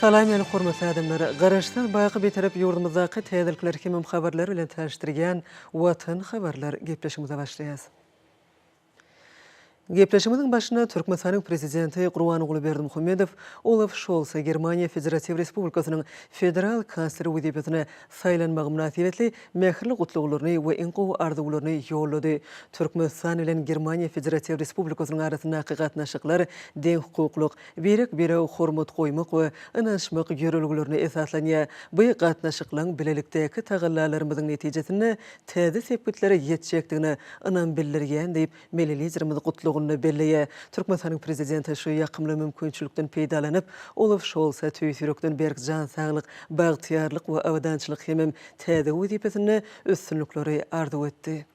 Salam ýene hormatly adamlar. Garaşsyz baky Bitarap ýurdumyzdaky täzelikler hemem habarlar bilen tanyşdyrýan Watan habarlar gepleşigimize başlaýas. Gepleşigimiziň başyna Türkmenistanyň Prezidenti Gurbanguly Berdimuhamedow Olaf Şolsa Germaniýa Federatiw Respublikasynyň Federal Kansleri wezipesine saýlanmagy mynasybetli mähirli gutlaglaryny we iň gowy arzuwlaryny ýollady. Türkmenistan bilen Germaniýa Federatiw Respublikasynyň arasyndaky gatnaşyklar deňhukuklyk, birek-birege hormat goýmak we ynanyşmak ýörelgelerine esaslanýar. Bu gatnaşyklaryň bilelikdäki tagallalarymyzyň netijesinde täze sepgitlere ýetjekdigine ynam bildirýän diýip, milli Liderimiz gutlagynda belleýär. Türkmenistanyň Prezidenti şu ýakymly mümkinçilikden peýdalanyp, Olaf Şolsa tüýs ýürekden berk jan saglyk, bagtyýarlyk we abadançylyk hemem täze wezipesinde üstünlikleri arzuw etdi.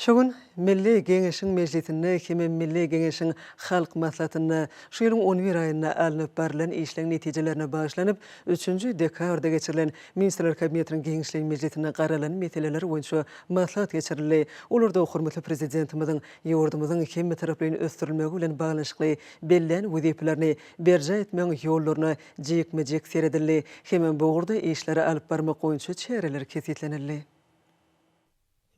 Şu gün Milli Geňeşiň mejlisinde hem-ä Milli Geňeşiň Halk Maslahatynda şu ýylyň on bir aýynda alnyp barylan işleň netijelerine bagyşlanyp, üçünji dekabrda geçirilen Ministrler Kabinetiniň giňişleýin mejlisinde garalan meseleler boýunça maslahat geçirildi. Olarda hormatly Prezidentimiziň ýurdumyzyň hemmetaraplaýyn ösdürilmegi bilen baglanyşykly bellän wezipelerini berjaý etmegiň ýollaryna jikme-jik seredildi hem bu ugurda işleri alyp barmak boýunça çäreler kesgitlenildi.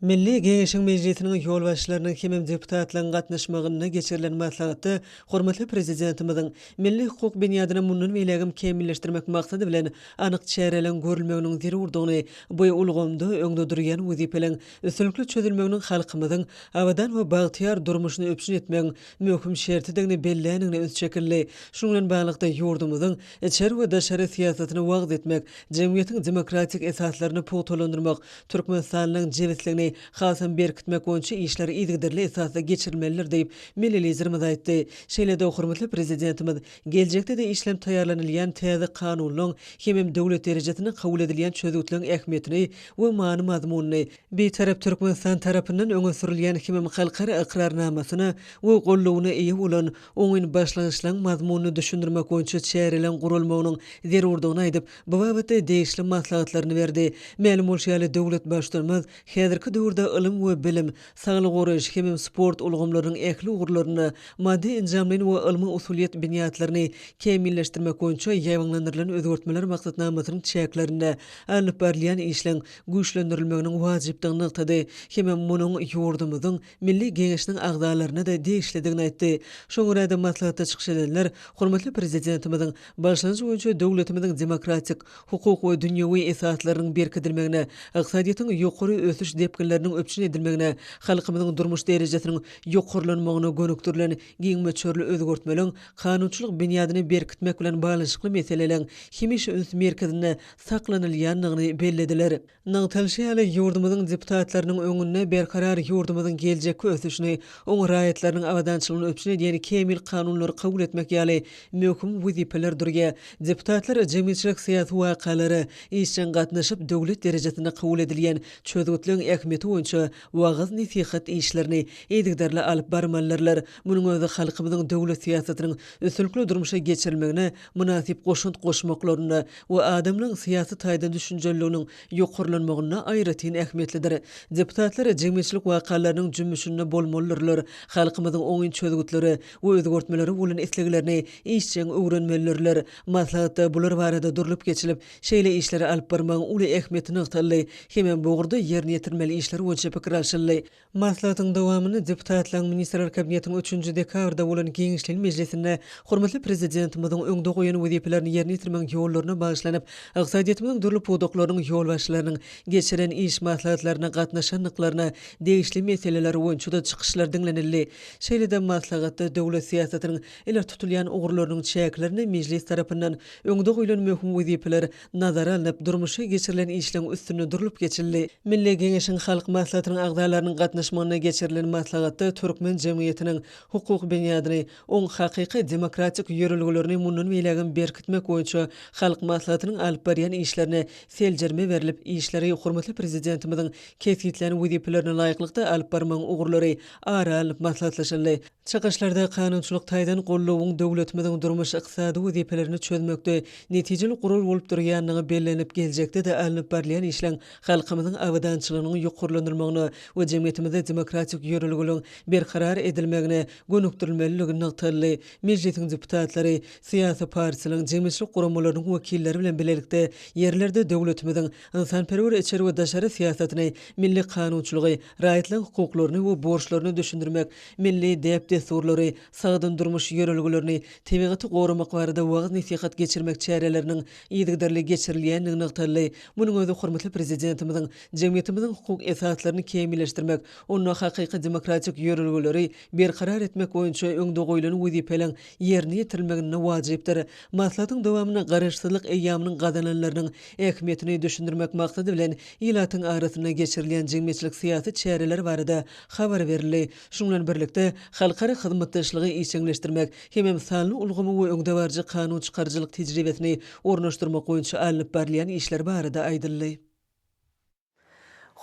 Milli Geňeşiň Mejlisiniň ýolbaşçylarynyň hem deputatlaryň gatnaşmagynda geçirilen maslahatda hormatly Prezidentimiziň milli-hukuk binýadyny mundan beýlägem kämilleşdirmek maksady bilen anyk çäreleriň görülmeginiň zerurdygyny, bu ulgamda öňde durýan wezipeleriň üstünlikli çözülmeginiň halkymyzyň abadan we bagtyýar durmuşyny üpjün etmegiň möhüm şertidigini belländigine üns çekildi. Şunuň bilen baglylykda, ýurdumyzyň içeri we daşary syýasatyny wagyz etmek, jemgyýetiň demokratik esaslaryny pugtalandyrmak, Türkmenistanlygyň jebisligini hasam berkitmek boýunça işler yzygiderli esasda geçirilmelidir diýip, milli Liderimiz aýtdy. Şeýle-de hormatly Prezidentimiz geljekde-de işlenip taýýarlanylýan täze Kanunlaryň hemem döwlet derejesinde kabul edilýän çözgütleriň ähmiýetini we many-mazmunyny, Bitarap Türkmenistan tarapyndan öňe sürülýän himem halkara ykrarnamasyna we goldawyna eýe bolan oňyn başlangyçlaryň mazmunyny düşündirmek boýunça çäreleriň guralmagynyň zerurdygyny aýdyp, bu babatda degişli maslahatlaryny berdi. Mälim bolşy ýaly, döwlet Baştutanymyz häzirki döwürde ylym we bilim, saglygy goraýyş hemem sport ulgamlarynyň ähli ugurlarynda maddy-enjamlaýyn we ylmy-usulyýet binýatlaryny kämilleşdirmek boýunça ýaýbaňlandyrylan özgertmeler maksatnamasynyň çäklerinde alnyp barylýan işleň güýçlendirilmeginiň wajypdygyny nygtady hem-ä munuň ýurdumyzyň Milli Geňeşiniň agzalaryna-da degişlidigini aýtdy. Şoňa görä-de, maslahatda çykyş edenler hormatly Prezidentimiziň başlangyjy boýunça döwletimiziň demokratik, hukuk we dünýewi esaslarynyň berkidilmegine, ykdysadyýetiň ýokary ösüş depginleriniň üpjün edilmegine, halkymyzyň durmuş derejesiniň ýokarlanmagyna gönükdirilen giň möçberli özgertmeleň kanunçylyk binýadyny berkitmek bilen baglanyşykly meseleleriň hemişe üns merkezinde saklanylýandygyny bellediler. Nygtalyşy ýaly, ýurdumyzyň deputatlarynyň öňünde berkarar ýurdumyzyň geljekki ösüşini, oň raýatlarynyň abadançylygyny üpjün edýän kämil kanunlary kabul etmek ýaly möhüm wezipeler durýar. Deputatlar jemgyýetçilik-syýasy wakalara işjeň gatnaşyp, döwlet derejesinde kabul edilýän çözgütleriň ähmiýeti boýunça wagyz-nesihat işlerini yzygiderli alyp barmalydyrlar, munuň özi halkymyzyň döwlet syýasatynyň üstünlikli durmuşa geçirilmegine mynasyp goşant goşmaklarynda we adamlaryň syýasy taýdan düşünjeliliginiň ýokarlanmagynda aýratyn ähmiýetlidir. Deputatlar jemgyýetçilik wakalarynyň jümmüşinde bolmalydyrlar, halkymyzyň oňyn çözgütlere we özgertmelere bolan isleglerini işjeň öwrenmelidirler. Maslahatda bular barada durlup geçilip, şeýle işleri alyp barmagyň uly ähmiýeti nygtaldy hemem bu ugurda ýerine ýetirilmeli işler boýunça pikir alşyldy. Maslahatyň dowamynda deputatlaryň Ministrler Kabinetiniň üçünji dekabrda bolan giňişleýin mejlisinde hormatly Prezidentimiziň öňde goýan wezipelerini ýerine ýetirmegiň ýollaryna bagyşlanyp, ykdysadyýetimiziň dürli pudaklarynyň ýolbaşçylarynyň geçirilen iş maslahatlaryna gatnaşandyklaryna degişli meseleler boýunça-da çykyşlar diňlenildi. Şeýle-de maslahatda döwlet syýasatynyň ileri tutulýan ugurlarynyň çäklerinde Mejlis tarapyndan öňde goýlan möhüm wezipeler nazara alnyp, durmuşa geçirilen işleň üstünde durlup geçildi. Milli Geňeşiň Halk Maslahatynyň agzalarynyň gatnaşmagynda geçirilen maslahatda türkmen jemgyýetiniň hukuk binýadyny, oň hakyky demokratik ýörelgelerini mundan beýlägem berkitmek boýunça Halk Maslahatynyň alyp barýan işlerine seljerme berlip, işleri hormatly Prezidentimiziň kesgitlän wezipelerine laýyklykda alyp barmagyň ugurlary ara alnyp maslahatlaşyldy. Çykyşlarda kanunçylyk taýdan goldawyň döwletimiziň durmuş-ykdysady wezipelerini çözmekde netijeli gural bolup durýandygy bellenilip, geljekde-de alnyp barylýan işleň halkymyzyň abadançylygynyň ýokarlandyrylmagyna we jemgyýetimizde demokratik ýörelgeleriň berkarar edilmegine gönükdirilmelidigi nygtaldy. Mejlisiň deputatlary syýasy partiýalaryň, jemgyýetçilik guramalarynyň wekilleri bilen bilelikde ýerlerde döwletimiziň ynsanperwer içeri we daşary syýasatyny, milli kanunçylygy, raýatlaryň hukuklaryny we borçlaryny düşündirmek, milli däp-dessurlary, sagdyn durmuş ýörelgelerini, tebigaty goramak barada wagyz-nesihat geçirmek çäreleriniň yzygiderli geçirilýändigi nygtaldy. Munuň özi hormatly Prezidentimiziň jemgyýetimiziň hukuk esaslaryny kämilleşdirmek, onda hakyky demokratik ýörelgeleri berkarar etmek boýunça öňde goýlan wezipeleriň ýerine ýetirilmeginde wajypdyr. Maslahatyň dowamynda Garaşsyzlyk eýýamynyň gazananlarynyň ähmiýetini düşündirmek maksady bilen, ilatyň arasynda geçirilýän jemgyýetçilik-syýasy çäreler barada habar berildi. Şunuň bilen birlikde, halkara hyzmatdaşlygy işjeňleşdirmek hemem sanly ulgamy we öňdebaryjy kanun çykaryjylyk tejribesini ornaşdyrmak boýunça alnyp barylýan işler barada aýdyldy.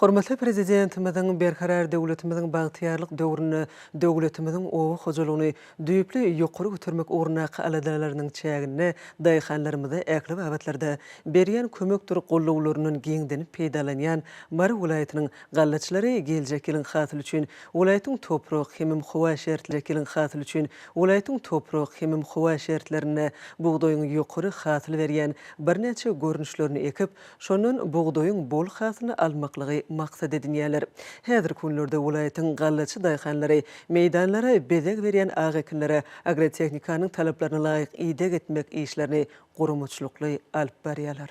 Hormatly Prezidentimiziň Berkarar döwletimiziň bagtyýarlyk döwründe döwletimiziň oba hojalygyny düýpli ýokary götermek ugrundaky aladalarynyň çäginde daýhanlarymyza ähli babatlarda berýän kömekdir gollawlaryndan giňdenip peýdalanýan Mary welaýatynyň gallaçylary geljek ýylyň hasyly üçin welaýatyň toprak hemem howa şertlerinde geljek ýylyň hasyly üçin welaýatyň toprak hemem howa şertlerinde bugdaýyň ýokary hasyl berýän birnäçe görnüşlerini ekip, Şondan bugdaýyň bol hasylyny almaklygy maksat edinýärler. Häzirki günlerde welaýatyň gallaçy daýhanlary meýdanlara bezeg berýän ak ekinlere agrotehnikanyň talaplaryna laýyk ideg etmek işlerini guramaçylykly alyp barýarlar.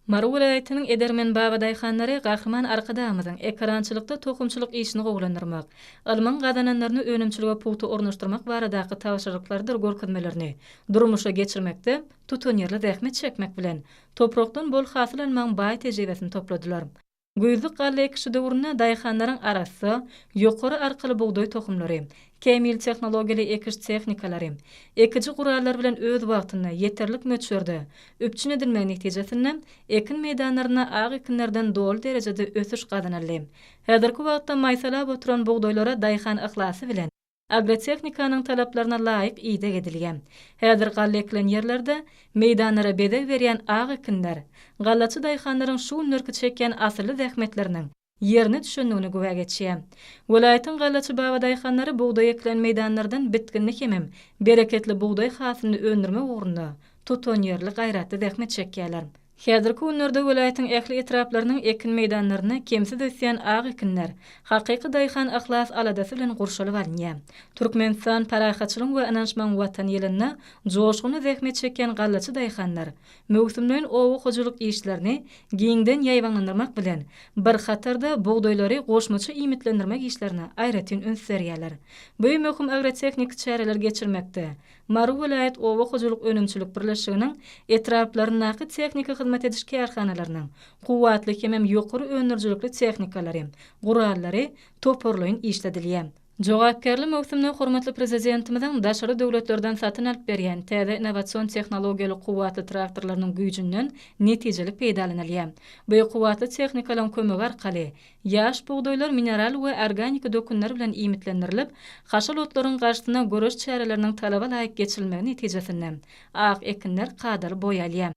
Mary welaýatynyň edermen baba daýhanlary Gahryman Arkadagymyzyň Ekerançylykda tohumçylyk işini gowulandyrmak, ylmyň gazananlaryny önümçilige pugta ornaşdyrmak baradaky tabşyryklarydyr görkezmelerini durmuşa geçirmekde, Tutanýerli zähmet çekmek bilen, toprakdan bol hasyl almagyň baý tejribesini topladylar. Güýzlük galla ekişi döwründe daýhanlaryň arassa, ýokary arkaly bugdaý tohumlary, kämil tehnologiýaly ekiş tehnikalary, ekiji gurallar bilen öz wagtynda, ýeterlik möçberde üpjün edilmegi netijesinde, ekin meýdanlarynda ak ekinlerden doly derejede ösüş gazanyldy. Häzirki wagtda maýsalap oturan bugdaýlara daýhan yhlasy bilen, agrotehnikanyň talaplaryna laýyk ideg edilýär. Häzir galla ekilen ýerlerde meýdanlara bezeg berýän ak ekinler, gallaçy daýhanlaryň şu günlerki çekýän asylly zähmetleriniň ýerine düşendigine güwä geçýär. Welaýatyň gallaçy babadaýhanlary bugdaý ekilen meýdanlardan bitginli hemem bereketli bugdaý hasylyny öndürmek ugrunda tutanýerli gaýratly zähmet çekýärler. Häzirki günlerde welaýatyň ähli etraplarynyň ekin meýdanlarynda kemsiz ösýän ak ekinler hakyky daýhan yhlas-aladasy bilen gurşalyp alynýar. Türkmenistan, parahatçylygyň we ynançmagyň Watany ýylynda joşgunly zähmet çekýän gallaçy daýhanlar möwsümleýin oba hojalyk işlerini giňden ýaýbaňlandyrmak bilen bir hatarda bugdaýlary goşmaça iýmitlendirmek işlerine aýratyn üns berýärler. Bu möhüm agrotehniki çäreleri geçirmekde Mary welaýat oba hojalyk önümçilik birleşiginiň etraplaryndaky tehniki hyzmat ediş kärhanalarynyň kuwwatly hemem ýokary öndürijilikli tehnikalary, gurallary toparlaýyn işledilýär. Jogapkärli möwsümde hormatly Prezidentimiziň daşary döwletlerden satyn alyp berýän täze innowasion tehnologiýaly kuwwatly traktorlarynyň güýjünden netijeli peýdalanylýar. Bu kuwwatly tehnikalaryň kömegi arkaly Ýaş bugdaýlar mineral we organiki dökünler bilen iýmitlendirilip, haşal otlaryň garşysyna göreş çäreleriniň talaba laýyk geçirilmegi netijesinde, ak ekinler kadaly boý alýar.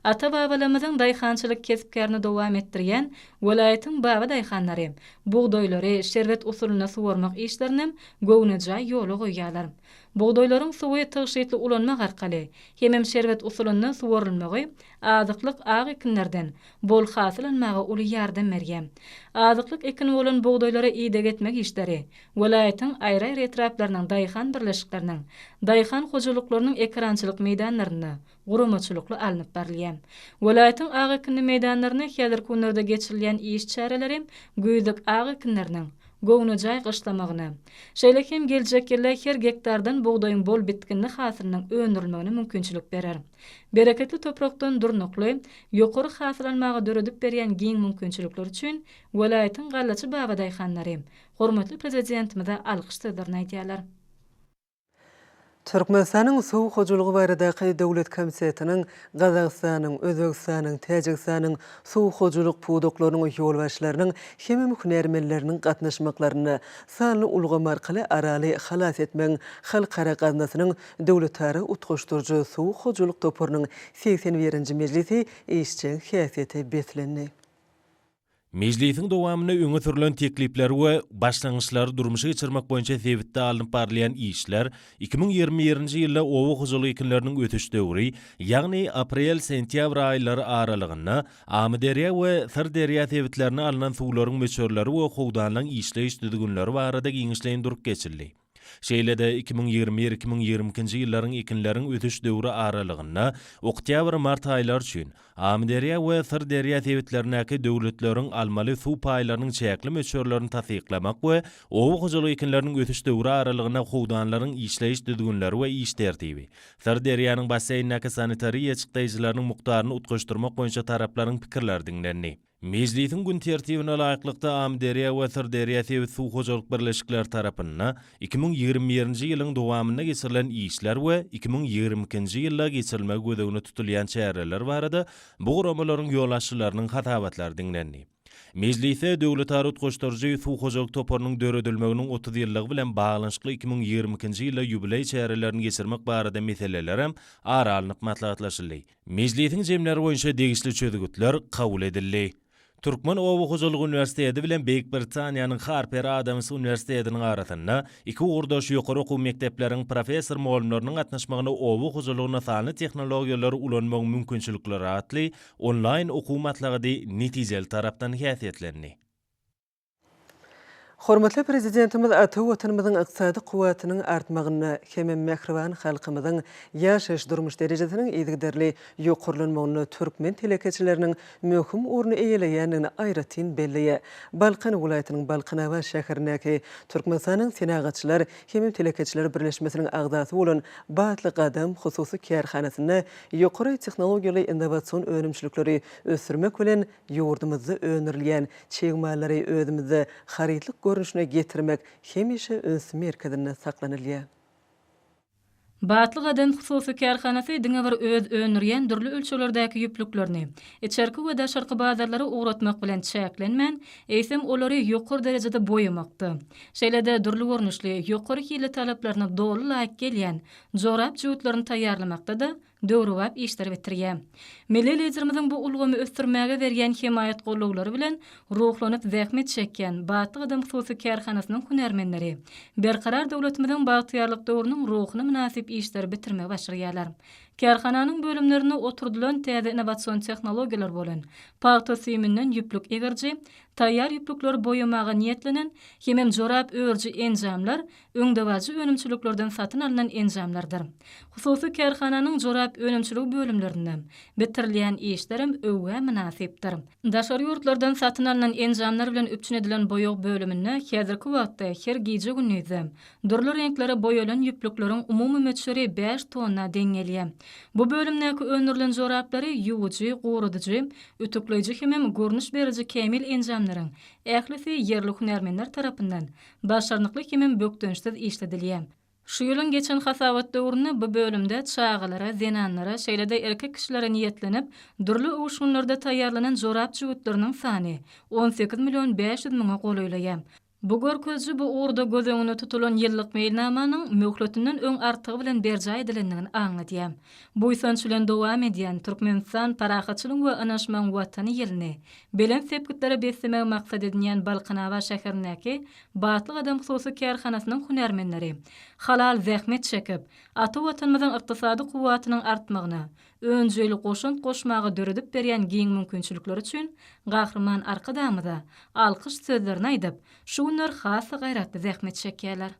Ata-babalarymyzyň daýhançylyk kesp-kärini dowam etdirýän welaýatyň baba daýhanlary bugdaýlary şerbet usulynda suwarmak işlerinem göwnejaý ýola goýýarlar. Bugdaýlaryň suwy tygşytly ulanmak arkaly hemem şerbet usulynda suwarylmagy Azyklyk ak ekinlerden bol hasyl almaga uly ýardam berýär. Azyklyk ekini bolan bugdaýlara ideg etmek işleri welaýatyň aýry-aýry etraplarynyň daýhan birleşikleriniň daýhan hojalyklarynyň ekerançylyk meýdanlarynda guramaçylykly alnyp barylýar. Welaýatyň ak ekinli meýdanlarynda häzirki günlerde geçirilýän iş çäreleri güýzlük ak ekinleriniň göwnejaý gyşlamagyna, şeýle hem geljek ýylda her gektardan bugdaýyň bol bitginli hasylynyň öndürilmegine mümkinçilik berer. Bereketli toprakdan durnukly, ýokary hasyl almaga döredip berýän giň mümkinçilikler üçin welaýatyň gallaçy babadaýhanlary hormatly Prezidentimize alkyş sözlerini aýdýarlar. Türkmenistanyň Suw hojalygy baradaky döwlet komitetiniň Gazagystanyň, Özbegistanyň, Täjigistanyň suw hojalyk pudaklarynyň ýolbaşçylarynyň hem-m hünärmenleriniň gatnaşmaklarynda sanly ulgam arkaly Araly halas etmegiň halkara gaznasynyň Döwletara utgaşdyryjy suw hojalyk toparynyň segsen birinji mejlisi işjeň häsiýete beslendi. Mejlisiň dowamynda öňe sürlen teklipler we başlangyçlary durmuşa geçirmek boýunça sebitde alnyp barylýan işler, iki müň ýigrimi birinji ýylda oba hojalyk ekinleriniň ösüş döwri, ýagny aprel-sentýabr aýlary aralygynda Amyderýa we Syrderýa sebitlerine alnan suwlaryň möçerleri we howdanlaň işleýiş düzgünleri barada giňişleýin durup geçildi. Şeýle-de, iki müň ýigrimi bir, iki müň ýigrimi ikinji ýyllaryň ekinleriň ösüş döwri aralygynda oktýabr-mart aýlary üçin Amyderýa we Syrderýa sebitlerindäki döwletleriň almaly suw paýlarynyň çäkli möçberlerini tassyklamak we oba hojalyk ekinleriniň ösüş döwri aralygynda howdanlaryň işleýiş düzgünleri we iş tertibi, Syrderýanyň basseýnindäki sanitariýa çykdaýjylarynyň mukdaryny utgaşdyrmak boýunça taraplaryň pikirleri diňlendi. Mejlisiň gün tertibine laýyklykda, Amyderýa we Syrderýa sebit suw hojalyk birleşikleri tarapynda iki müň ýigrimi birinji ýylyň dowamynda geçirilen işler we iki müň ýigrimi ikinji ýylda geçirilmegi göz öňünde tutulýan çäreler barada bu guramalaryň ýolbaşçylarynyň hasabatlary diňlendi. Mejlisde Döwletara utgaşdyryjy suw hojalyk toparynyň döredilmeginiň otuz ýyllygy bilen baglanyşykly iki müň ýigrimi ikinji ýylda ýubileý çärelerini geçirmek barada meselelerem ara alnyp maslahatlaşyldy. Mejlisiň jemleri boýunça degişli çözgütler kabul edildi. Türkmen oba hojalyk uniwersiteti bilen Beýik Britaniýanyň Harper Adams uniwersitetiniň arasynda iki ugurdaş ýokary okuw mekdepleriň professor-mugallymlarynyň gatnaşmagynda oba hojalygynda sanly tehnologiýalary ulanmagyň mümkinçilikleri atly onlaýn okuw maslahady netijeli tarapdan häsiýetlendi. Hormatly Prezidentimiz ata Watanymyzyň ykdysady kuwwatynyň artmagynda hem mähriban halkymyzyň ýaşaýyş-durmuş derejesiniň yzygiderli ýokarlanmagynda türkmen telekeçileriniň möhüm orny eýeleýändigini aýratyn belleýär. Balkan welaýatynyň Balkanabat şäherindäki Türkmenistanyň Senagatçylar hem telekeçiler birleşmesiniň agzasy bolan Batly gadam hususy kärhanasynda ýokary tehnologiýaly innowasion önümçilikleri ösdürmek bilen Ýurdumyzda öndürilýän çig mallary özümizde harytlyk görnüşine getirmek hemişe üns merkezinde saklanylýar. Batly Gaden hususy kärhanasy diňe bir öz öndürýän dürli ölçeglerdäki ýüplüklerini içerki we daşarky bazarlara ugratmak bilen çäklenmän, eýsem, olary ýokary derejede boýamakda, şeýle-de dürli görnüşli, ýokary hilli talaplaryna doly laýyk gelýän jorap jübütlerini taýýarlamakda-da döwrebap işleri bitirýär. Milli Liderimiziň bu ulgamy ösdürmäge berýän hemaýat gollawlary bilen ruhlanyp zähmet çekýän Batly gadam hususy kärhanasynyň hünärmenleri Berkarar döwletimiziň bagtyýarlyk döwrüniň ruhuna mynasyp işleri bitirmegi başarýarlar. Kärhananyň bölümlerinde oturdylan täze innowasion tehnologiýalar bolan pagta süýüminden ýüplük egeriji, taýýar ýüplükleri boýamaga niýetlenen hemem jorap örüji enjamlar öňdebaryjy önümçiliklerden satyn alnan enjamlardyr hususy kärhananyň jorap önümçiligi bölümlerinde bitirilýän işlerem öwgä mynasypdyr. Daşary ýurtlardan satyn alnan enjamlar bilen üpjün edilen boýag bölüminde häzirki wagtda her gije-gündizde dürli reňklere boýalan ýüplükleriň umumy möçberi bäş tonna deň gelýär. Bu bölümdäki öndürilen joraplary ýuwujy, gurudyjy, ütükleýji hemem görnüş beriji kämil enjamlaryň ählisi ýerli hünärmenler tarapyndan başarnykly himem bökdençsiz işledilýär. Şu ýylyň geçen hasabat döwründe bu bölümde çagalara, zenanlara, şeýle-de erkek kişilere niýetlenip, dürli öwüşginlerde taýýarlanan jorap jübütleriniň sany on sekiz million bäş ýüz müňe golaýlaýar. Bu görkeziji bu ugurda göz öňünde tutulan ýyllyk meýilnamanyň möhletinden öň artygy bilen berjaý edilendigini aňladýar. Buýsanç bilen dowam edýän Türkmenistan Parahatçylygyň we ynaşmagyň Watany ýylyny belent sepgitlere beslemegi maksat edinýän Balkanabat şäherindäki Batly gadam hususy kärhanasynyň hünärmenleri halal zähmet çekip, ata Watanymyzyň ykdysady kuwwatynyň artmagyna önjeýli goşant goşmaga döredip berýän giň mümkinçilikleri üçin Gahryman Arkadagymyza alkyş sözlerini aýdyp, şu günler has-da gaýratly zähmet çekýärler.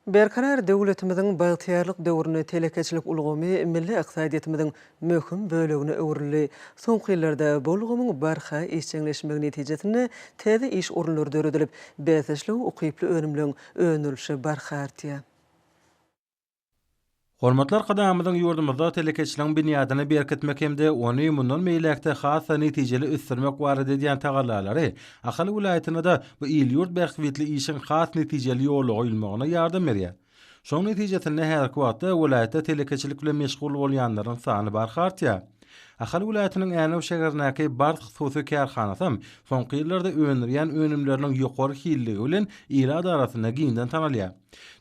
Berkarar döwletimiziň bagtyýarlyk döwründe telekeçilik ulgamy milli ykdysadyýetimiziň möhüm bölegine öwrüldi. Soňky ýyllarda bu ulgamyň barha işjeňleşmegi netijesinde täze iş orunlary döredilip, bäsdeşlige ukyply önümleň öndürilişi barha artýar. Hormatly Arkadagymyzyň ýurdumyzda telekeçiligiň binýadyny berkitmek hem-de ony mundan beýläk-de has-da netijeli ösdürmek barada edýän tagallalary Ahal welaýatyna-da bu il-ýurt bähbitli işiň has netijeli ýola goýulmagyna ýardam berýär. Şonuň netijesinde häzirki wagtda welaýatda telekeçilik bilen meşgul bolýanlaryň sany barha artýar. Ahal welaýatynyň Änew şäherindäki Bars hususy kärhanasam soňky ýyllarda öndürýän önümleriniň ýokary hilliligi bilen ilat arasynda giňden tanalýar.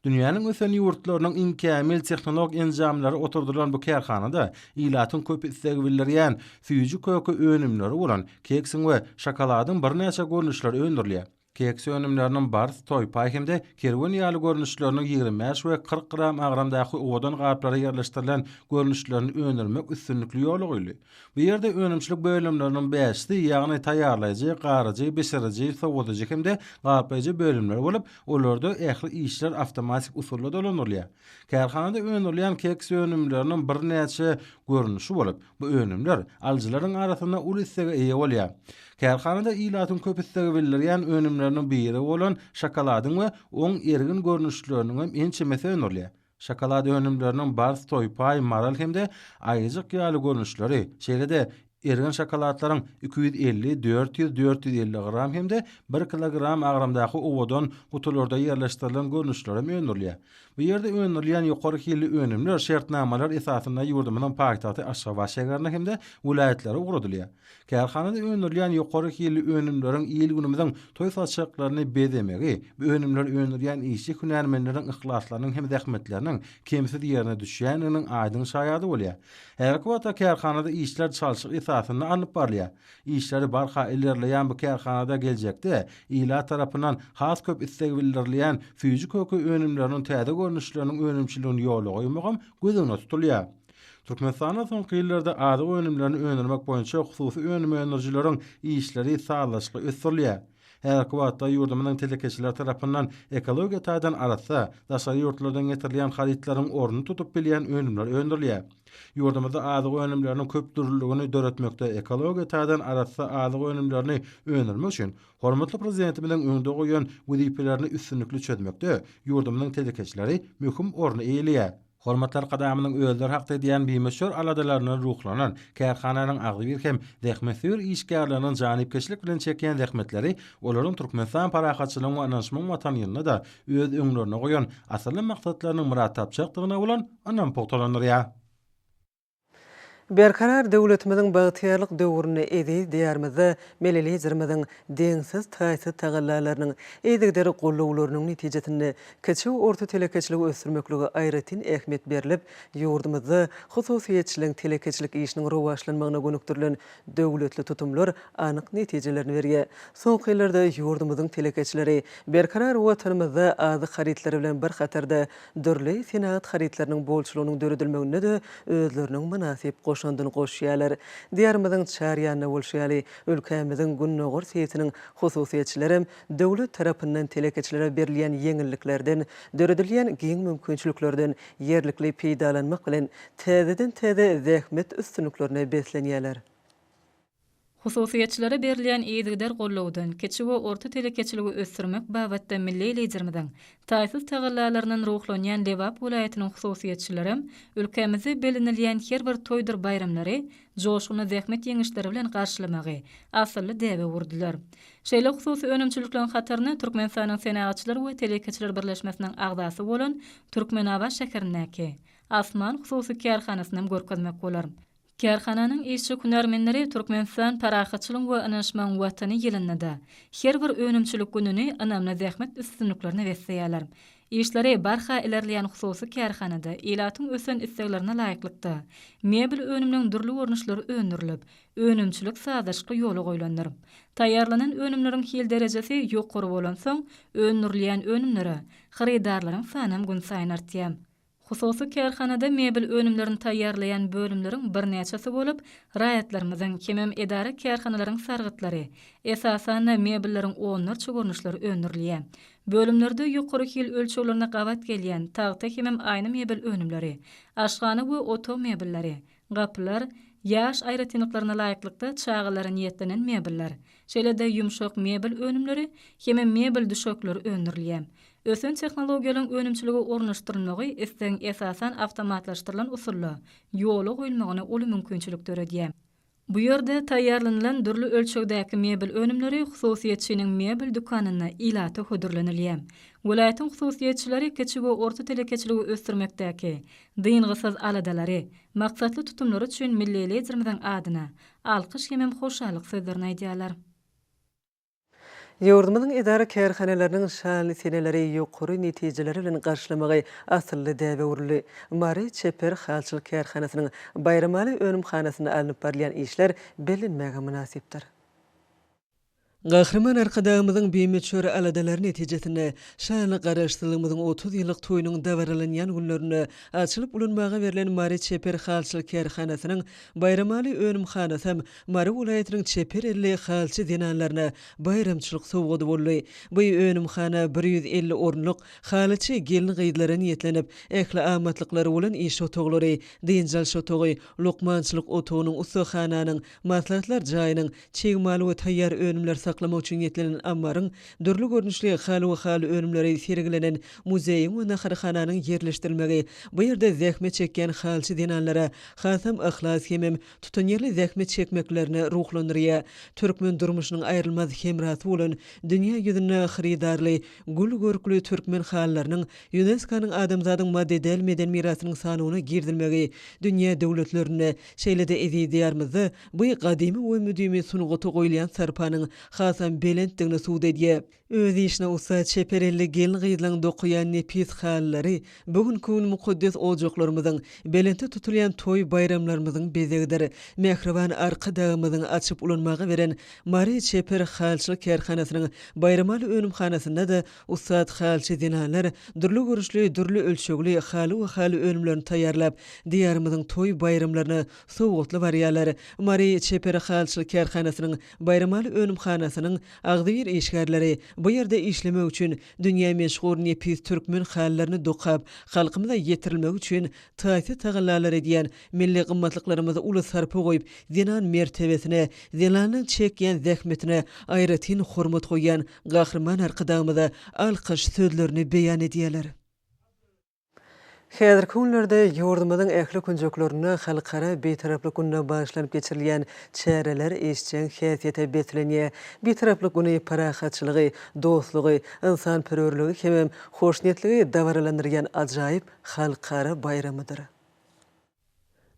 Dünýäniň ösen ýurtlarynyň iň kämil tehnolog enjamlary oturdylan bu kärhanada ilatyň köp isleg bildirýän süýji köke önümleri bolan keksiň we şokoladyň birnäçe görnüşleri öndürilýär. Keks önümleriniň bars, toýpaý hem-de kerwen ýaly görnüşleriniň ýigrimi bäş we kyrk gram agramdaky owadan gaplara ýerleşdirilen görnüşlerini öndürmek üstünlikli ýola goýuldy. Bu ýerde önümçilik bölümleriniň bäşisi, ýagny taýýarlaýjy, garyjy, bişiriji, sowadyjy hem-de gaplaýjy bölümler bolup, olarda ähli işler awtomatik usulda dolandyrylýar. Kärhanada öndürilýän keks önümleriniň birnäçe görnüşi bolup, bu önümler alyjylaryň arasynda uly islege eýe bolýar. Kärhanada ilatyň köp islegi bildirýän önümleriniň biri bolan şokoladyň we oň ergin görnüşleriniňem ençemesi öndürilýär. Şokolad önümleriniň bars, toýpaý, maral hem-de aýyjyk ýaly görnüşleri, şeýle-de erigen şokoladlaryň iki ýüz elli, dört ýüz, dört ýüz elli gram hem-de bir kilogram agramdaky owadan gutularda ýerleşdirilen görnüşlerem öndürilýär. Bu ýerde öndürilýän ýokary hilli önümler şertnamalar esasynda ýurdumyzyň paýtagty Aşgabat şäherine hem-de welaýatlara ugradylýar. Kärhanada öndürilýän ýokary hilli önümleriň il-günümiziň toý saçaklaryny bezemegi, bu önümleri öndürýän işçi hünärmenleriň yhlaslarynyň hem zähmetleriniň kemsiz ýerine düşýändiginiň aýdyň şaýady bolýar. Häzirki wagtda kärhanada işler çalşyk esasynda alnyp barylýar. Işleri barha ilerleýän bu kärhanada geljekde ilat tarapyndan has köp isleg bildirilýän süýji köki önümleriniň täze görnüşleriniň önümçiligini ýola goýmagam göz öňünde tutulýar. Türkmenistanda soňky ýyllarda azyk önümlerini öndürmek boýunça hususy önüm öndürijileriň işleri sazlaşykly ösdürilýär. Häzirki wagtda ýurdumyzyň telekeçileri tarapyndan ekologiýa taýdan arassa, daşary ýurtlardan getirilýän harytlaryň ornuny tutup bilýän önümler öndürilýär. Ýurdumyzda azyk önümleriniň köpdürlüligini döretmekde ekologiýa taýdan arassa azyk önümlerini öndürmek üçin hormatly Prezidentimiziň öňde goýan wezipelerini üstünlikli çözmekde ýurdumyzyň telekeçileri möhüm orny eýeleýär. Hormatly Arkadagymyzyň özleri hakda edýän bimöçber aladalaryndan ruhlanan, kärhananyň agzybir hem zähmetsöýer işgärleriniň janypkeşlik bilen çekýän zähmetleri olaryň Türkmenistan parahatçylygyň we ynanyşmagyň Watany ýylynda-da öz öňlerine goýan asylly maksatlarynyň myrat tapjakdygyna bolan ynamy pugtalandyrýar. Berkarar döwletimiziň bagtyýarlyk döwründe eziz Diýarymyzda Milli Liderimiziň deňsiz-taýsyz tagallalarynyň, yzygiderli goldawlarynyň netijesinde kiçi we orta telekeçiligi ösdürmeklige aýratyn ähmiýet berlip, ýurdumyzda hususyýetçiligiň telekeçilik işiniň rowaçlanmagyna gönükdirilen döwletli tutumlar anyk netijelerini berýär. Soňky ýyllarda ýurdumyzyň telekeçileri berkarar Watanymyzda azyk harytlary bilen bir hatarda dürli senagat harytlarynyň bolçulygynyň döredilmeginde-de özleriniň mynasyp goşandyny goşýarlar. Diýarymyzyň çar ýanynda bolşy ýaly, ülkämiziň gündogar sebitiniň hususyýetçilerem döwlet tarapyndan telekeçilere berilýän ýeňilliklerden, döredilýän giň mümkinçiliklerden ýerlikli peýdalanmak bilen, täzeden-täze zähmet üstünliklerine beslenýärler. Hususyýetçilere berilýän yzygider gollawdan, kiçi we orta telekeçiligi ösdürmek babatda milli Liderimiziň taýsyz tagallalaryndan ruhlanýan Lebap welaýatynyň hususyýetçilerem ülkämizde bellenilýän her bir toýdur baýramlary joşgunly zähmet ýeňişleri bilen garşylamagy asylly däbe urdular. Şeýle hususy önümçilikleriň hataryna Türkmenistanyň Senagatçylar we telekeçiler birleşmesiniň agzasy bolan Türkmenabat şäherindäki Asman hususy kärhanasynam görkezmek bolar. Kärhananyň işçi-hünärmenleri Türkmenistan Parahatçylygyň we ynanyşmagyň Watany ýylynda-da, her bir önümçilik gününi ynamly zähmet üstünliklerine besleýärler. Işleri barha ilerleýän hususy kärhanada ilatyň ösen isleglerine laýyklykda, mebel önümleriň dürli görnüşleri öndürilip, önümçilik sazlaşykly ýola goýlandyr. Taýýarlanan önümleriň hil derejesi ýokary bolansoň, öndürilýän önümlere hyrydarlaryň sanam günsaýyn artýar. Hususy kärhanada mebel önümlerini taýýarlaýan bölümleriň birnäçesi bolup, raýatlarymyzyň, hemem edara-kärhanalaryň sargytlary, esasan-da, mebelleriň onlarça görnüşleri öndürilýär. Bölümlerde ýokary hil ölçeglerine gabat gelýän tagta hemem aýna mebel önümleri, aşhana we otag mebelleri, Gapylar, ýaş aýratynlyklaryna laýyklykda çagalara niýetlenen mebeller, şeýle-de ýumşak mebel önümleri hem-ä mebel düşekleri öndürilýär. Ösen tehnologiýalaryň önümçilige ornaşdyrylmagy islegiň esasan awtomatlaşdyrylan usulda ýola goýulmagyna uly mümkinçilik döredýär. Bu ýerde taýýarlanylan dürli ölçegdäki mebel önümleri hususyýetçiniň mebel dükanynda ilata hödürlenilýär. Welaýatyň hususyýetçileri kiçi we orta telekeçiligi ösdürmekdäki, Dyngysyz aladalary, maksatly tutumlary üçin milli Liderimiziň adyna alkyş hemem hoşallyk sözlerini aýdýarlar. Ýurdumyzyň edara-kärhanalarynyň şanly seneleri ýokary netijeler bilen garşylamagy asylly däbe öwrüldi. Mary çeper halçylyk kärhanasynyň Baýramaly önümhanasynda alnyp barylýan işler bellenmäge mynasypdyr. Gahryman Arkadagymyzyň bimöçber aladalary netijesinde, şanly Garaşsyzlygymyzyň otuz ýyllyk toýunyň dabaralanýan günlerinde açylyp ulanmaga berlen Mary çeper halçylyk kärhanasynyň baýramaly önümhanasam Mary welaýatynyň çeper elli halçy zenanlaryna baýramçylyk sowgady boldy. Bu önümhana bir ýüz elli orunlyk, halyçy gelin-gyzlara niýetlenip, ähli amatlyklary bolan iş otaglary, dynç alyş otagy, lukmançylyk otagynyň, ussahananyň, maslahatlar jaýynyň, Çig mal we taýýar önümleri saklamak üçin niýetlenen ammaryň, dürli görnüşli haly we haly önümleri sergilenen muzeýiň we naharhananyň ýerleşdirilmegi bu ýerde zähmet çekýän halçy zenanlara hasam yhlas hemem tutanýerli zähmet çekmeklerini ruhlandyrýar. Türkmen durmuşynyň aýrylmaz hemrasy bolan dünýä ýüzünde hyrydarly, gül görkli türkmen halylarynyň Ýuneskonyň Adamzadyň madde-däl meden mirasynyň sanawyna girizilmegi dünýä döwletlerinde, şeýle-de eziz Diýarymyzda Bu gadymy we müdimi sungata goýulýan sarpanyň hasam belentdigini subut edýär. Öz işine ussat çeper elli gelin-gyzlaryň dokaýan nepis halylary bu günki gün mukaddes ojaklarymyzyň, belentde tutulýan toý-baýramlarymyzyň bezegidir. Mähriban Arkadagymyzyň açyp ulanmaga beren Mary çeper halyçylyk kärhanasynyň Baýramaly önümhanasynda-da ussat halyçy zenanlar dürli görnüşli, dürli ölçegli haly we haly önümlerini taýýarlap, Diýarymyzyň toý-baýramlaryna Sowgatly barýarlar. Mary çeper halçylyk kärhanasynyň Baýramaly önümhanasynyň agzybir işgärleri bu ýerde işlemek üçin dünýä meşhur nepis türkmen halylaryny dokap, halkymyza ýetirilmegi üçin taýsyz tagallalar edýän milli gymmatlyklarymyza uly sarpa goýup, zenan mertebesine, zenanyň çekýän zähmetine aýratyn hormat goýýan Gahryman Arkadagymyza alkyş sözlerini beýan edýärler. Häzirki günlerde ýurdumyzyň ähli künjeklerinde Halkara Bitaraplyk gününe bagyşlanyp geçirilýän çäreler işjeň häsiýete beslenýär. Bitaraplyk güni parahatçylygy, dostlugy, ynsanperwerligi hemem hoşniýetligi dabaralandyrýan ajaýyp halkara baýramydyr.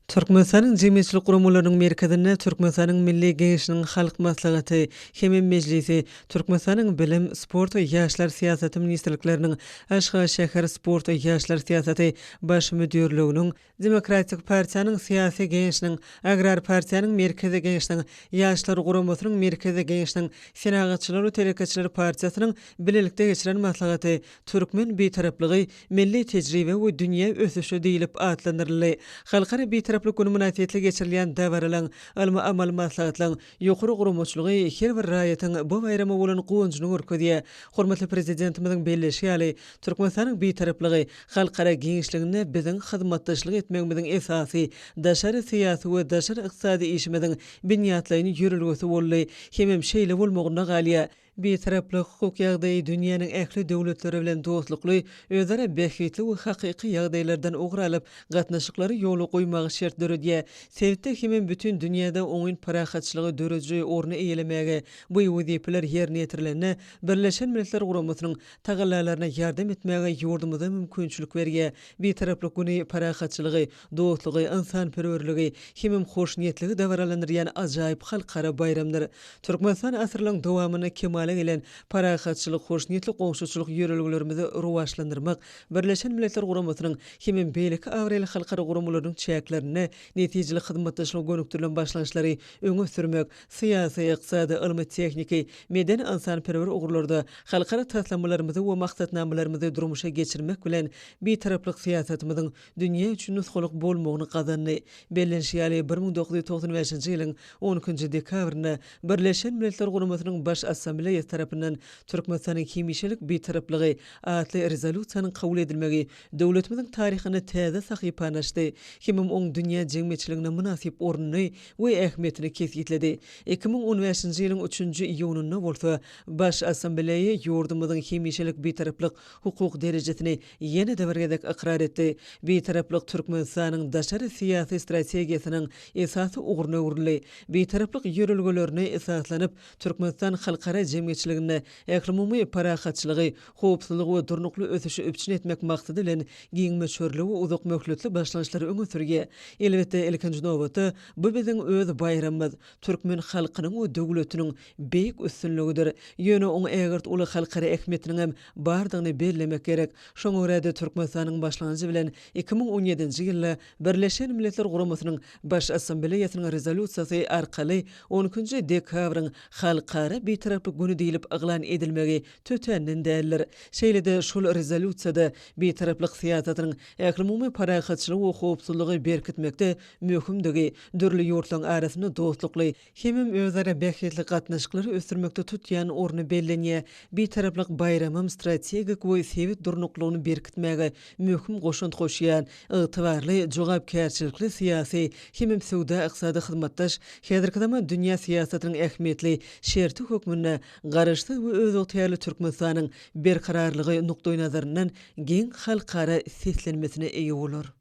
Türkmenistanyň jemgyýetçilik guramalarynyň merkezinde Türkmenistanyň Milli Geňeşiniň Halk Maslahaty hem Mejlisi, Türkmenistanyň Bilim, sport we ýaşlar syýasaty ministrlikleriniň, Aşgabat şäher sport we ýaşlar syýasaty Baş müdirliginiň, Demokratik partiýanyň Syýasy Geňeşiniň, Agrar partiýanyň Merkezi Geňeşiniň, Ýaşlar guramasynyň Merkezi Geňeşiniň, Senagatçylar we telekeçiler partiýasynyň bilelikde geçiren maslahaty, Türkmen Bitaraplygy milli tejribe we dünýä ösüşi diýlip atlandyryldy. Halkara Bitaraplyk güni mynasybetli geçirilýän dabaralaryň, ylmy-amaly maslahatlaryň ýokary guramaçylygy her bir raýatyň bu baýrama bolan guwanjyny görkezýär. Hormatly Prezidentimiziň belleýşi ýaly, Türkmenistanyň Bitaraplygy halkara giňişliginde biziň hyzmatdaşlyk etmegimiziň esasy daşary syýasy we daşary ykdysady işimiziň binýatlaýyn ýörelgesi boldy hemem şeýle bolmagynda galýar. Bitaraplyk hukuk ýagdaýy dünýäniň ähli döwletleri bilen dostlukly, özara bähbitli we hakyky ýagdaýlardan ugur alyp, gatnaşyklary ýola goýmaga şert döredýär. Sebitde hemem bütin dünýäde oňyn parahatçylygy dörüji orny eýelemäge, bu wezipeler ýerine ýetirilende, Birleşen Milletler Guramasynyň tagallalaryna ýardam etmäge ýurdumyza mümkinçilik berýär. Bitaraplyk güni parahatçylygy, dostlugy, ynsanperwerligi hemem hoşniýetligi dabaralandyrýan ajaýyp halkara baýramdyr. Türkmenistan asyrlaryň dowamynda kemala gelen parahatçylyk, hoşniýetli goňşuçylyk ýörelgelerimizi rowaçlandyrmak, Birleşen Milletler Guramasynyň hemem beýleki abraýly halkara guramalarynyň çäklerinde netijeli hyzmatdaşlyga gönükdirilen başlangyçlary öňe sürmek, syýasy, ykdysady, ylmy-tehniki, medeni-ynsanperwer ugurlarda halkara taslamalarymyzy we maksatnamalarymyzy durmuşa geçirmek bilen Bitaraplyk syýasatymyzyň dünýä üçin nusgalyk bolmagyny gazandy. Bellenişi ýaly, bir müň dokuz ýüz togsan bäşinji ýylyň on ikinji dekabrynda Birleşen Milletler Guramasynyň Baş Assambleýasy tarapyndan Türkmenistanyň hemişelik Bitaraplygy atly rezolýusiýanyň kabul edilmegi döwletimiziň taryhynda täze sahypany açdy hemem oň dünýä jemgyýetçiliginde mynasyp ornuny we ähmiýetini kesgitledi. Iki müň on bäşinji ýylyň üçünji iýunynda bolsa Baş Assambleýa ýurdumyzyň hemişelik Bitaraplyk hukuk derejesini ýene-de bir gezek ykrar etdi, Bitaraplyk Türkmenistanyň daşary syýasy strategiýasynyň esasy ugruna öwrüldi. Bitaraplyk ýörelgelerine esaslanyp, Türkmenistan halkara jemgyýetçiliginde ählumumy parahatçylygy, howpsuzlygy we durnukly ösüşi üpjün etmek maksady bilen giň möçberli we uzak möhletli başlangyçlary öňe sürýär. Elbetde, ilkinji nobatda, bu biziň öz baýramymyz, türkmen halkynyň we döwletiniň beýik üstünligidir. Ýöne oň ägirt uly halkara ähmiýetiniň hem bardygyny bellemek gerek. Şoňa görä-de, Türkmenistanyň başlanjy bilen iki müň on ýedinji ýylda Birleşen Milletler Guramasynyň Baş Assambleýasynyň Rezolýusiýasy arkaly on ikinji dekabryň Halkara Bitaraplyk güni diýlip yglan edilmegi tötänden däldir. Şeýle-de, şol Rezolýusiýada Bitaraplyk syýasatynyň ählumumy parahatçylygy we howpsuzlygy berkitmekde möhümdigi, dürli ýurtlaryň arasynda dostlukly, hemem özara bähbitli gatnaşyklary ösdürmekde tutýan orny bellenýär. Bitaraplyk baýramym strategik we sebit durnuklygyny berkitmäge möhüm goşant goşýan, ygtybarly, jogapkärçilikli syýasy hemem söwda-ykdysady hyzmatdaş, häzirki zaman dünýä syýasatynyň ähmiýetli şerti hökmünde Garaşsyz we özygtyýarly Türkmenistanyň berkararlygy nukdaýnazaryndan giň halkara seslenmesine eýe bolar.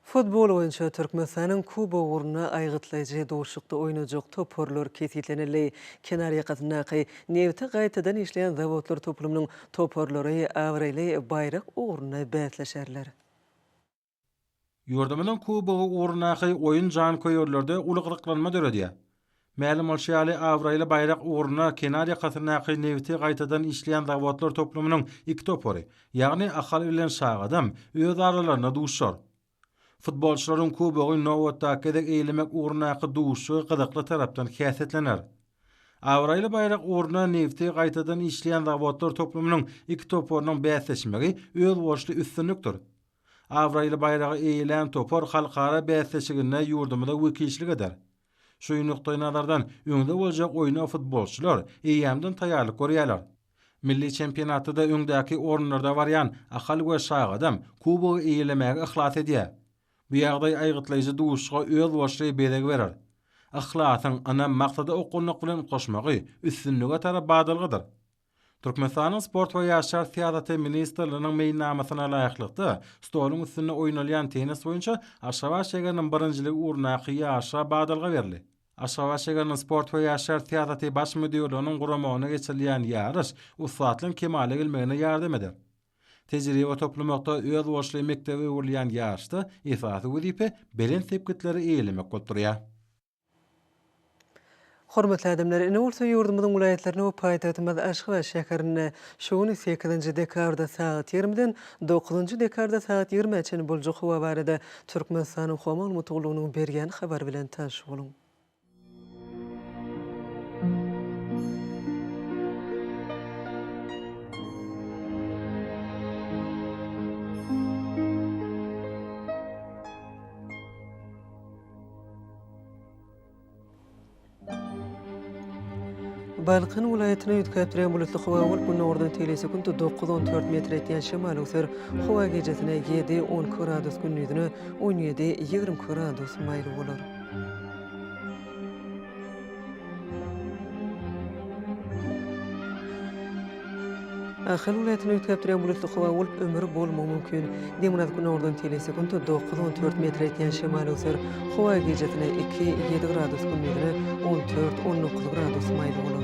Futbol boýunça Türkmenistanyň Kubogy ugrunda aýgytlaýjy duşuşykda oýnajak toparlar kesgitlenildi. Kenarýakasyndaky nebti gaýtadan işleýän zawodlar toplumynyň toparlary abraýly baýrak ugrunda bäsleşerler. Ýurdumyzyň Kubogy ugrundaky oýun janköýerlerde uly gyzyklanma döredýär. Mälim bolşy ýaly, abraýly baýrak ugruna kenar ýakasyndaky nebiti gaýtadan işleýän zawodlar toplumynyň iki topary, ýagny Ahal bilen Şagadam öz aralarynda duşar. Futbolçylaryň kubogy nobatdaky gezek eýlemek ugrundaky duşuşygy gyzykly tarapdan häsiýetlener. Abraýly baýrak ugruna nebiti gaýtadan işleýän zawodlar toplumynyň iki toparynyň bäsleşmegi özboluşly üstünlikdir. Abraýly baýragy eýelän topar halkara bäsleşiginde ýurdumyza wekilçilik eder. Şu nukdaýnazardan, öňde boljak oýna futbolçylar eýýämden taýýarlyk görýärler. Milli çempionatda-da öňdäki orunlarda barýan Ahal we Şagadam kubogy eýelemäge yhlas edýär. Bu ýagdaý aýgytlaýjy duşuşyga özboluşly bezeg berer. Yhlasyň, ynam, maksada okgunlyk bilen goşmagy üstünlige tarap badalgadyr. Türkmenistanyň Sport we ýaşlar syýasaty ministrliginiň meýilnamasyna laýyklykda, stoluň üstünde oýnalýan tennis boýunça Aşgabat şägeriniň birinjiligi ugrundaky ýaşlara badalga berildi. Aşgabat şägeriniň Sport we ýaşlar syýasaty Baş müdirliginiň guramagynda geçirilýän ýaryş ussatlygyň kemala gelmegine ýardam eder. Tejribe toplamakda özboluşly mekdebe öwrülýän ýaryşda esasy wezipe belent sepgitleri eýelemek bolup durýar. Hormatly adamlar, ine bolsa ýurdumyzyň welaýatlarynda we paýtagtymyz Aşgabat şäherinde şu gün sekizinji dekabrda sagat ýigrimiden dokuzynjy dekabrda sagat ýigrimä çenli boljak howa barada Türkmenistanyň Howa maglumat gullugynyň berýän habary bilen tanyş boluň. Balkan welaýatyny üýtgäp durýan bulutly howa bolup, günordan teýle sekundy 9-14 metr etýän şemal öwser. Howa gijesine 7-12 gradus gündizine 17-20 gradus maýyl bolar. Ahal welaýatyny üýtgäpdirýän bulutly howa bolup, ömür bolmagy mümkin. Demirgazyk günordan tele sekuntda dokuz, on dört metr etýän şemal öser. Howa gijesine iki, ýedi gradus, gündizine on dört, on dokuz gradus maýyl bolar.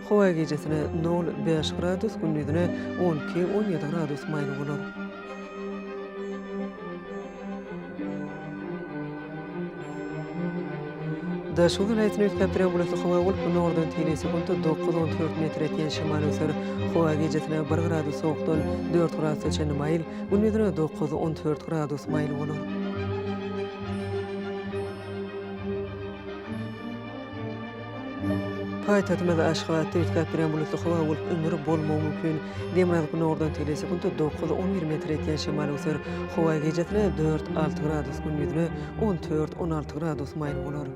Howa gijesine nol, bäş gradus, gündizine on iki, on ýedi gradus maýyl bolar. Daşoguz welaýatyny üýtgäp duran bulutly howa bolup, gündogardan teýle sekuntda dokuz, on dört metr etýän şemal öser. Howa gijesine bir gradus sowukdan dört gradusa çenli maýyl, gündizine dokuz, on dört gradus maýyl bolar. Paýtagtymyzda Aşgabatda üýtgäp duran bulutly howa bolup, ümür bolmagy mümkin. Demirgazyk gündogardan tüýli sekuntda dokuz-on bir metr etýän şemal öser. Howa gijesine dört-alty gradus, gündizine on tört-on alty gradus maýyl bolar.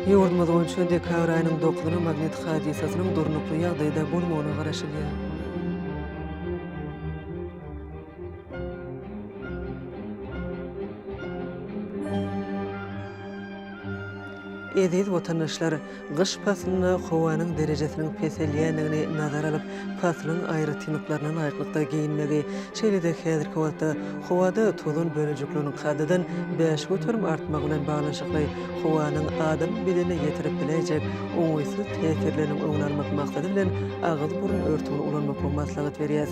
Ýurdumyz boýunça dekabr aýynyň dokuzyna magnit hadysasynyň durnukly ýagdaýda bolmagyna garaşylýar. Eziz watandaşlar, gyş paslynda howanyň derejesiniň peselýändigini nazara alyp, paslyň aýratynlyklaryna laýyklykda geýinmegi, şeýle-de häzirki wagtda howada tozan bölejikleriniň kadadan bäş göterim artmagy bilen baglanyşykly howanyň adam bedenine ýetirip biläýjek oňaýsyz täsirleriniň öňüni almak maksady bilen agyz-burun örtügini ulanmaklygy maslahat berýäs.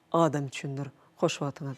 Adam üçindir. Hoş wagtyňyz.